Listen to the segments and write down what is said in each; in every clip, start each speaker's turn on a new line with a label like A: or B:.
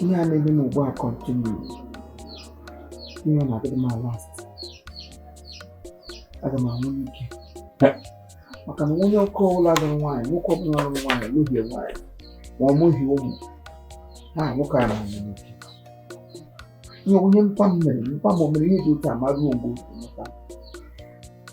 A: ihe a na-eme m ugbu a continue ihe ọ na-adịrị m last aga m anwụ n'ike maka na onye nwoke ọbụla lụrụ nwaanyị nwoke ọbụla lụrụ nwaanyị lụhie nwaanyị ma ọ mụghị ụmụ ha nwoke a na-anwụ n'ike ihe nwunye mpa m mere mpa m o mere ihe dị otu a ma ruo mgbe otu mụta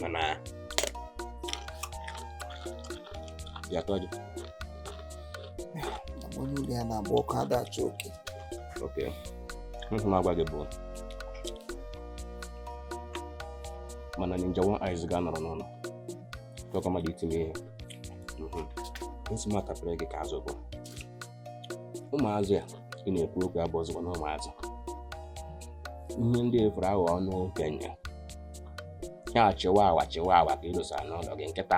B: mana ya tọ
A: gị onye ụlọ ya na-agba ọkụ ada achụ oke
B: okay ihe m na-agwa gị bụ mana ninja one eyes ga-anọrọ n'ụlọ tọkọ mmadụ itinye ihe nsị m atapere gị ka azụ bụ ụmụazị a ị na-ekwu okwu abụzikwanụ ụmụazị ihe ndị efuru aghọ ọnụ okenye ya chihuahua chihuahua ka ị dosara n'ụlọ gị nkịta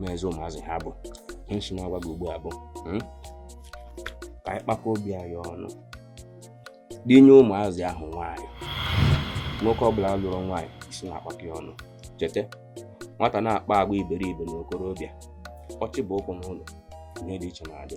B: mezi ụmụazị ha bụ nsi na-agwa gị ugbu a bụ hmm? ka anyị kpakọ obi anyị ọnụ dinye ụmụazị ahụ nwaanyị nwoke ọbụla lụrụ nwaanyị isi na-akpakọ ya ọnụ chete nwata na-akpa agwa iberibe na okorobịa ọ chịba ụkwụ n'ụlọ ihe dị iche na-adị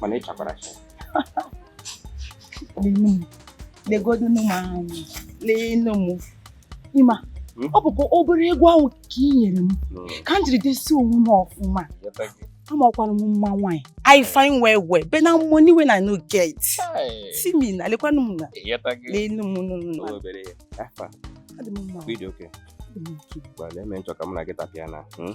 B: mana ị
C: chakwara acha legodu m anya lee nne m ịma hmm? ọ bụkwa obere ego ahụ ka ị nyere m ka m jiri dezie onwe m ọfụma amakwara m mma nwaanyị i fine well well but na money when i no get see me na lekwanụ m na n'enu m nụnụ adị
B: m mma video okay gbalịa eme nchọ ka m na gị tapịa na hmm?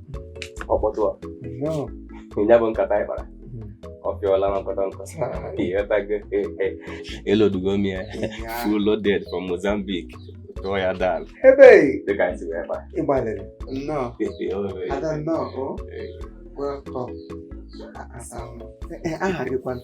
A: ọkpọtụ a ya bụ nkata
B: anyị kpara ọ pịọla na nkọta nkọ ịghọtago eloadugo m ya full loaded from Mozambique tụọ ya down ebe dịka
A: anyị si wee
B: kpa ị gbalịrị
A: nnọọ ada nnọọ o welcome aha gị kwanụ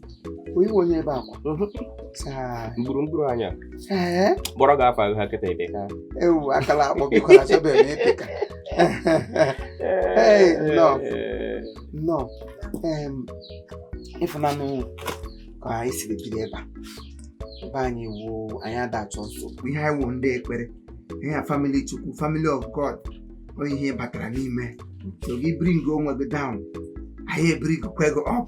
A: ị wụ onye ebe akwa
B: mhm. mgburu mgburu anya
A: kpọrọ gị afa
B: ha kịta ebe ka
A: ewu
B: akala
A: akpọ bịkwara chọbe
B: m
A: ịpị ka nnọọ nnọọ ị fụnanụ ka anyị siri biri ebe a ebe anyị wụ anyị ada achọ nsogbu ihe anyị wụ ndị ekpere ihe a family chukwu family of god onye ihe batara n'ime so gị bring onwe gị down anyị ebringkwa gị up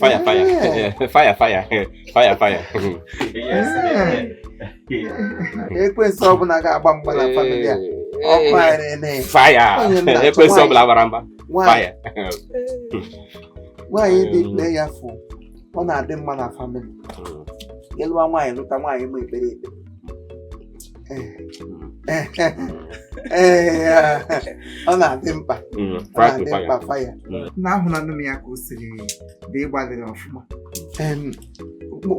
C: Fire,
B: fire. fire, fire. Fire, fire.
A: Ekwensu ọbụla ga-agba mgba na famili a. Ọkụ anyị na-enye. Fire.
B: Ekwensu ọbụla gbara mgba.
A: Fire. Nwaanyị dị prayerful, ọ na-adị mma na famili. Ị lụwa nwaanyị lụta nwaanyị ma ekpere ekpere. ọ na-adị mkpa mm, na-adị mkpa fire mm. na ahụlanụ m ya ka o siri dị ị gbalịrị ọfụma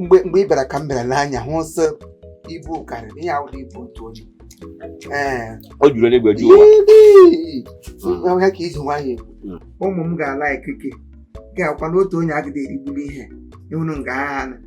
A: mgbe ị bịara ka m bịara n'anya hụ sị ibu karịrị ihe ahụ ibu otu
B: onye o juru eluigwe ju ụwa mm.
A: ya ka iji nwayọ ụmụ m ga-ala ikike ga-akwa n'otu onye agadị erigbuli ihe ị hụrụ nga ahụ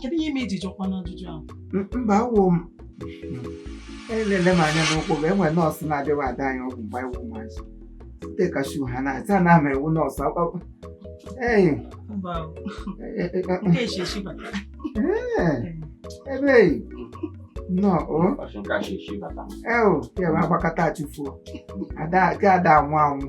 C: kedu ihe ime iji jụkwa
A: n'ajụjụ ahụ mba awụ m elele m anya n'ukwu ga enwe nọọsụ na-abịawa ada anyị ọgwụ mgbe anyị wụ ụmụazị site kashu ha na-ata na ama ewu nọọsụ akpakpọ ee ebe nnọọ o eo ya bụ agbakọta achụfuo ada anwụ anwụ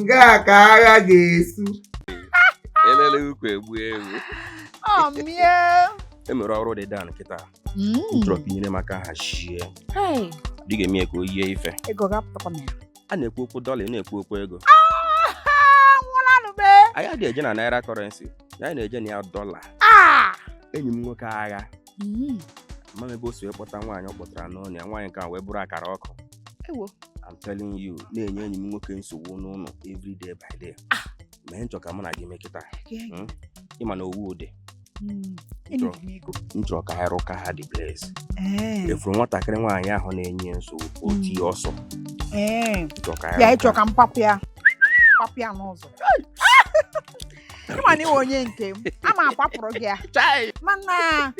A: nga ka agha
B: ga-esu elele ukwu egbuo ewu ọmịa e nwere ọrụ dị dan kịta m chọrọ ka i nyere m aka hazie dị ga-eme ya ka o yie ife ego ga-apụtakwa m ya a na-ekwu okwu dọla ị na-ekwu okwu ego nwụlanụbe anyị adịghị eje na naira currency anyị na-eje na ya dọla enyi m nwoke ahụ amaghị m ebe o si wee kpọta nwaanyị ọ kpọtara n'ụnọ ya nwaanyị nke a wee bụrụ akara ọkụ ewo I'm telling you na-enye enyi m nwoke nsogbu n'ụlọ every day by day ah! ihe m chọ ka mụ na gị mee kịta hmm? ị ma na ọ wụ ụdị hmm, m chọrọ ka ha rụka ha dị blaze eh. efuru nwatakịrị nwaanyị ahụ na-enye nsogbu hmm. oti ọsọ eh.
C: ya ị chọ ka m papụ ya papụ ya n'ụzọ ị ma na ị wụ onye nke m ama akwapụrụ gị ya Chai! mana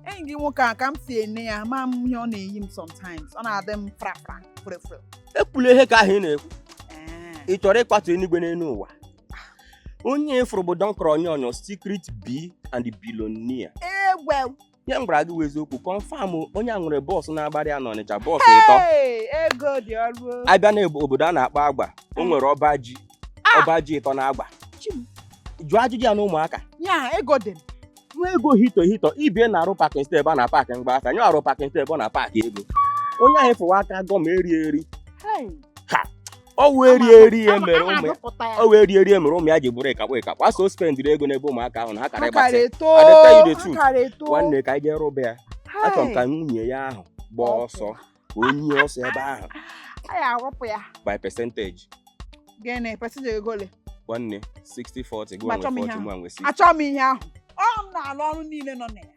C: enyi gị nwoke a ka m si ene ya ma m ihe ọ na-eyi m sometimes ọ na-adị m frafra frefre
B: ekwula ihe ka ahụ ị na-ekwu ị chọrọ ịkwatu enigwe n'elu ụwa onye ị fụrụ bụ Don Corleone secret b and billionaire egwe ihe m gwara gị wụ eziokwu confirm onye a nwere bọọsụ na-agbara ya n'Ọnịcha bọọsụ ịtọ Hey, ego dị ọrụ o. a bịa na obodo a na-akpọ agba o nwere ọba ji Ah! ọba ji ịtọ na agba Chi m. jụọ ajụjụ ya na ụmụaka ya ego dị m. nwa ego hito hito ibie na-arụ pakin step a na paakị mgba aka nye arụ pakin step ọ na paakị ego onye ahụ fụwa aka gọm eri eri Hey, ọ wee rie eri ya mere ụmụ ya ji bụrụ ịkakpọ ịkakpọ a sị o spendiri ego n'ebe ụmụaka ahụ na ha kara ịgbatị adịta ide tu nwanne ka anyị jee rụba ya achọrọ m ka nwunye ya ahụ gbaa ọsọ ka onye ọsọ ebe ahụ by percentage gịnị percentage ego ole nwanne 60 40 gị nwe 40 mụ nwe 60 achọghị m ihe ahụ
C: ọ m na-alụ ọrụ niile nọ na ya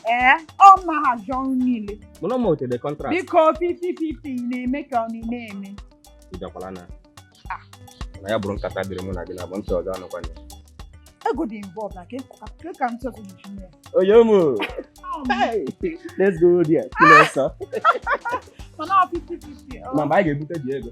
C: ee ọ m na-ahazi ọrụ niile mụnwa wetere
B: contract biko 50-50
C: na-eme ka ọ na-eme ịbịakwala
B: na
C: Ah. na
B: ya bụrụ nkata dịrị mụ na gị naabọ ntị ọzọ anụkwana ego
C: dị involved na ka ịkọ- ka ka ntị ọzọ ji mee oyo
B: mụ let's go there kụlọ ọsọ
C: mana ọ 50-50 ọ- ma mgbe anyị ga-ebute dị
B: ego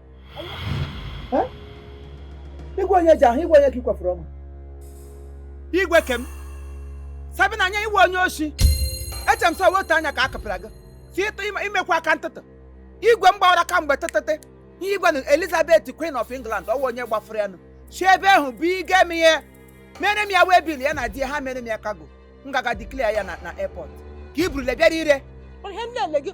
A: igwe onye ji ahụ igwe onye ka ị kwafuru ọnụ igwe ke m sabina anya iwe onye oshi eche m sọ wetu anya ka a kapịra gị si ịtụ ime- imekwa aka ntụtụ igwe m gbawara kamgbe tụtụtụ ihe igwe na elizabeth queen of england ọ wụ onye gbafuru ya nụ si ebe ahụ bụ uk mere m ya waybill ya na di ya ha mere m ya cargo m gaga declare ya na airport ka i burule bịara ire ihe m na-eme gị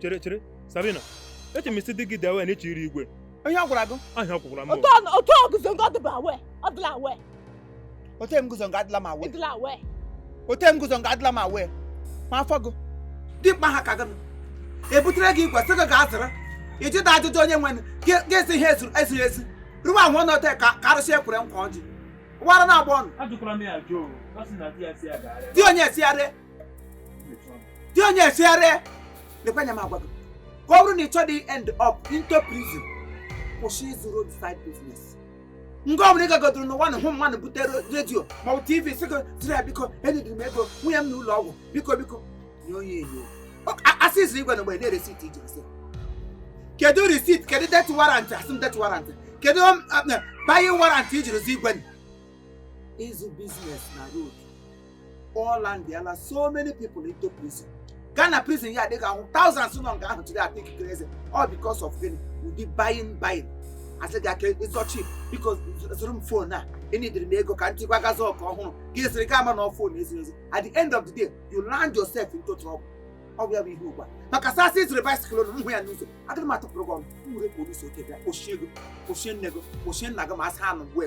D: chere chere sabina eche m sị di gị dị aware na ị chọ ire igwe onye ọ gwara
A: gị ahịa kwụkwara m otu
D: ọ- otu o guzo nga
C: ọ dịbu aware ọ dịla aware ote
A: m guzo nga adịla m aware ị dịla
C: aware ote m guzo
A: nga adịla m aware ma afọ gị dimkpa ha ka gị ebutere gị igwe sị gị gaa zụrụ ị jụda ajụjụ onye nwe ga-esi ihe ezuru ezuru ezi ruo ahụ ọ
D: nọte
A: ka arụsị e
D: kwere nkwa
A: ọjị wara na-agba ọnụ ajụkwara m
D: ya
A: jụụ ọ sị na di ya sị ya
E: gaa ree di onye sị ya ree di onye sị ya ree lekwa anya m agwa gị ka ọ bụrụ na ị chọdị end up into prison kwụsị ịzụ roadside business nga ọbụla ị gagodoro n'ụwa na hụ mmadụ butere radio maọbụ tv sị gị zụrụ ya biko eneediri m ego nwunye m nọ n'ụlọ ọgwụ biko biko nye onye enyo a sị i ziri igwe na mgbe na receipt i ji a sị kedu receipt kedu death warrant a sị m death warrant kedu buying warrant i jiri zi igwe ịzụ business na road ọ landiala so many people into prison gaa na prison yard ị ga-ahụ thousands nọ nga ahụ today are taking crazy all because of gịnị ụdị buying buying a sị gị ah it's so cheap biko zụrụ m phone a eneediri m ego ka m ji gaa zụọ nke ọhụrụ gị aziri gị ama na phone e ziri ezi at the end of the day you land yourself into trouble ọ bụ ya bụ ihe ugbu a maka a sị sị ị zụrụ bicycle ụlọ hụ ya n'ụzọ agaghị m atụpụrụ gị ọnụ m were police oke bịa kpọchie gị kpọchie nne gị kpọchie nna gị ma asị ha nụ mgbe